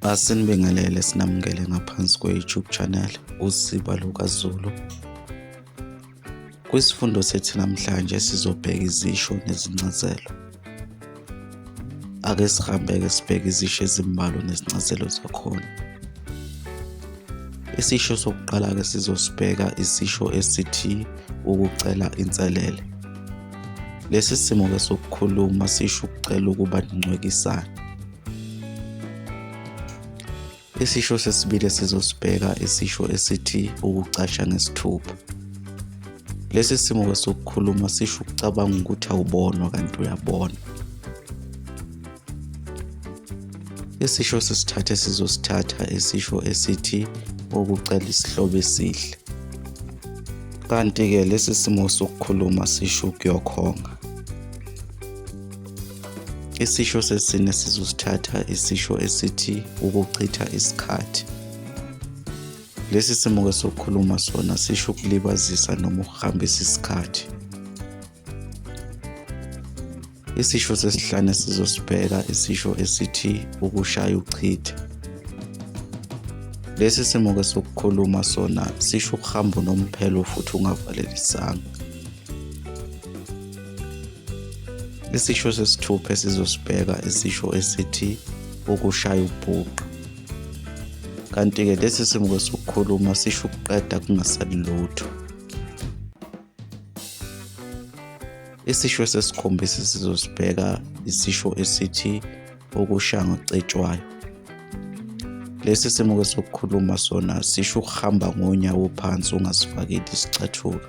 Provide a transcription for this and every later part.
Asinibingelele sinamukele ngaphansi kwe-YouTube channel uSiba LukaZulu. Kwisifundo sethu namhlanje sizobheka izisho nezincazelo. Ake sihambeke sibheke izisho ezimbalwa nezincazelo zakhona. Isisho sokuqala-ke sizosibheka isisho esithi ukucela inselele. Lesi simo-ke sokukhuluma sisho ukucela ukuba nincwekisane. Isisho sesibili esizosibheka isisho esithi ukucasha ngesithupha. Lesi simo kwesokukhuluma sisho ukucabanga ukuthi awubonwa kanti uyabona. Isisho sesithatha esizosithatha isisho esithi ukucela isihlobo esihle. Kanti-ke lesi simo sokukhuluma sisho ukuyokhonga. Isisho sesine sizosithatha isisho esithi ukuchitha isikhathi. Lesi simo ke sokukhuluma sona sisho ukulibazisa noma ukuhambisa isikhathi. Isisho sesihlane sizosibheka isisho esithi ukushaya uchitha. Lesi simo ke sokukhuluma sona sisho ukuhamba unomphelo futhi ungavalelisanga. Isisho sesithupha esizosibheka isisho esithi ukushaya ubhuqa. Kanti-ke lesi simuko sokukhuluma sisho ukuqeda kungasali lutho. Isisho sesikhombisa sizosibheka isisho esithi ukushaya ngocetshwayo. Lesi simuko sokukhuluma sona sisho ukuhamba ngonyawo phansi ungasifakeli isicathulo.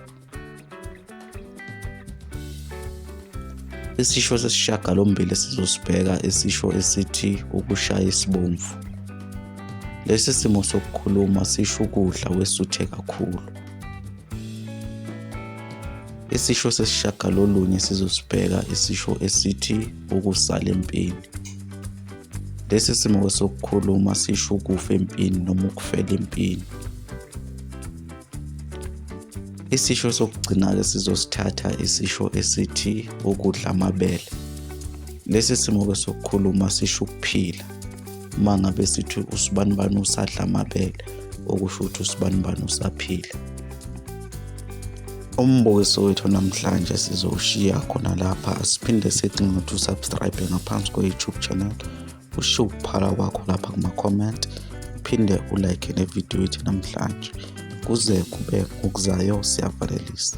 Isisho sesishagalombili sizosibheka isisho esithi ukushaya isibomvu. Lesi simo sokukhuluma sisho ukudla wesuthe kakhulu. Isisho sesishagalolunye sizosibheka isisho esithi ukusala empini. Lesi simo sokukhuluma sisho ukufa empini noma ukufela empini. Isisho sokugcina-ke sizosithatha isisho esithi ukudla amabele. Lesi simo-ke sokukhuluma sisho ukuphila. Uma ngabe sithi usibanibani usadla amabele, okusho ukuthi usibanibani usaphila. Umbukiso wethu namhlanje sizowushiya khona lapha siphinde sithi ngithi usubscribe ngaphansi kwe-YouTube channel ushiye ukuphala kwakho lapha kuma-comment uphinde ulike nevidiyo yethu namhlanje kuze kube ngokuzayo siyavalelisa